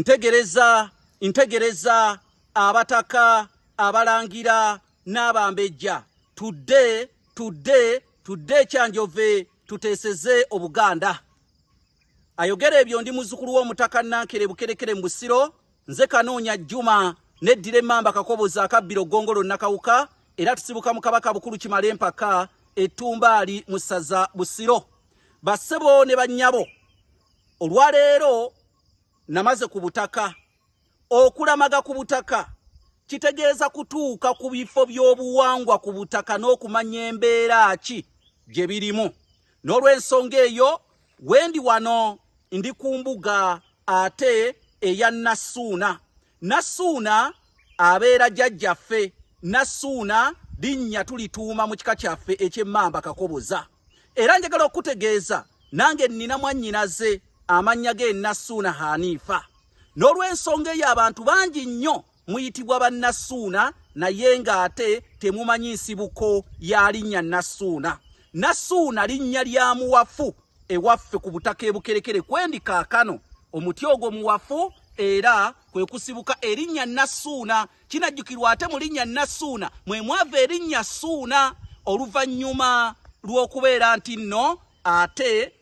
Ntegereza, ntegereza abataka, abalangira, n'abambejja. Tudde, tudde, tudde ekyanjove tuteeseze Obuganda. Ayogera ebyo ndi muzukulu w'omutaka Nankere Bukerekere mu Busiro, nze Kanoonya Juma, neddira emmamba kakobozi akabbiro gongolo Nakawuka, era tusibuka mu Kabaka Bukulu Kimale Empaka, Ettumbaali mu ssaza Busiro. Bassebo ne bannyabo, olwaleero namaze ku butaka okulamaga ku butaka kitegeeza kutuuka ku bifo by'obuwangwa ku butaka n'okumanya embeera ki gye birimu n'olw'ensonga eyo wendi wano ndi ku mbuga ate eya nassuuna Nassuuna abeera jjajjaffe, Nassuuna linnya tulituuma mu kika kyaffe eky'emmamba Kakoboza. Era njagala okukutegeeza nange nnina mwannyinaze amannya ge Nassuuna Haniifa. N'olw'ensonga eyo abantu bangi nnyo muyitibwa bannassuuna naye ng'ate temumanyi nsibuko ya linnya Nassuuna. Nassuuna linnya lya muwafu ewaffe ku butaka ebukerekere kwendi kaakano omuti ogwo muwafu era kwe kusibuka erinnya nassuuna kinajjukirwa ate mu linnya nassuuna mwe mwava erinnya ssuuna oluvannyuma lw'okubeera nti nno ate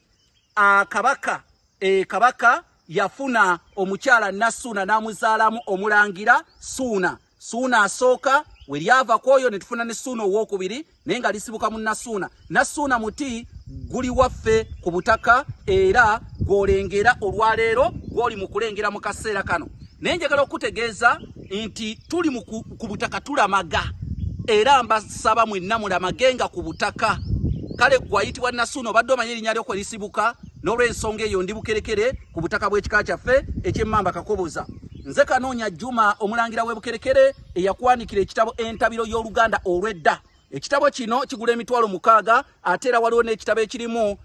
akabaka e kabaka Yafuna omukyala Nassuuna n'amuzaalamu omulangira Suuna. Suuna asooka we lyava ku oyo ne tufuna ne Suuna owookubiri naye nga lisibuka mu Nassuuna. Nassuuna muti guli waffe ku butaka era gw'olengera olwaleero gw'oli mu kulengera mu kaseera kano. Naye njagala okukutegeeza nti tuli ku butaka tulamaga era mbasaba mwenna mulamage nga ku butaka. Kale gwayitibwa Nassuuna obadde omanyi erinnya lyo kwe lisibuka? N'olw'ensonga eyo ndi Bukerekere ku butaka bw'ekika kyaffe eky'Emmamba Kakoboza. Nze Kanoonya Juma omulangira w'e Bukerekere eyakwanikira ekitabo Entabiro y'Oluganda olw'edda. Ekitabo kino kigula emitwalo mukaaga ate era waliwo n'ekitabo ekirimu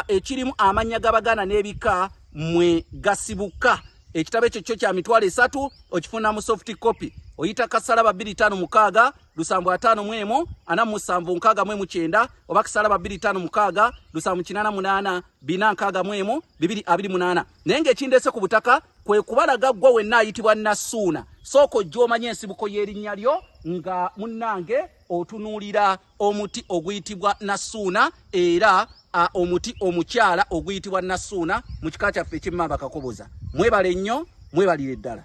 ekirimu amannya g'Abaganda n'ebika mwe gasibuka. Ekitabo ekyo kyo kya mitwalo esatu okifuna mu soft copy. Oyita kasala babiri tano mukaaga lusanvu ataano mu emu ana mu musanvu nkaaga mu emu kyenda oba kisalaba bbiri ttaano mukaaga lusanvu kinaana munaana bina nkaaga mu emu bibiri abiri munaana naye ng'ekindeese ku butaka kwe kubalaga ggwa wenna ayitibwa nasuuna sooka ojja omanya ensibuko y'erinnya lyo nga munnange otunuulira omuti oguyitibwa nasuuna era omuti omukyala oguyitibwa nasuuna mu kika kyaffe ekyemmamba kakoboza mwebale nnyo mwebalire ddala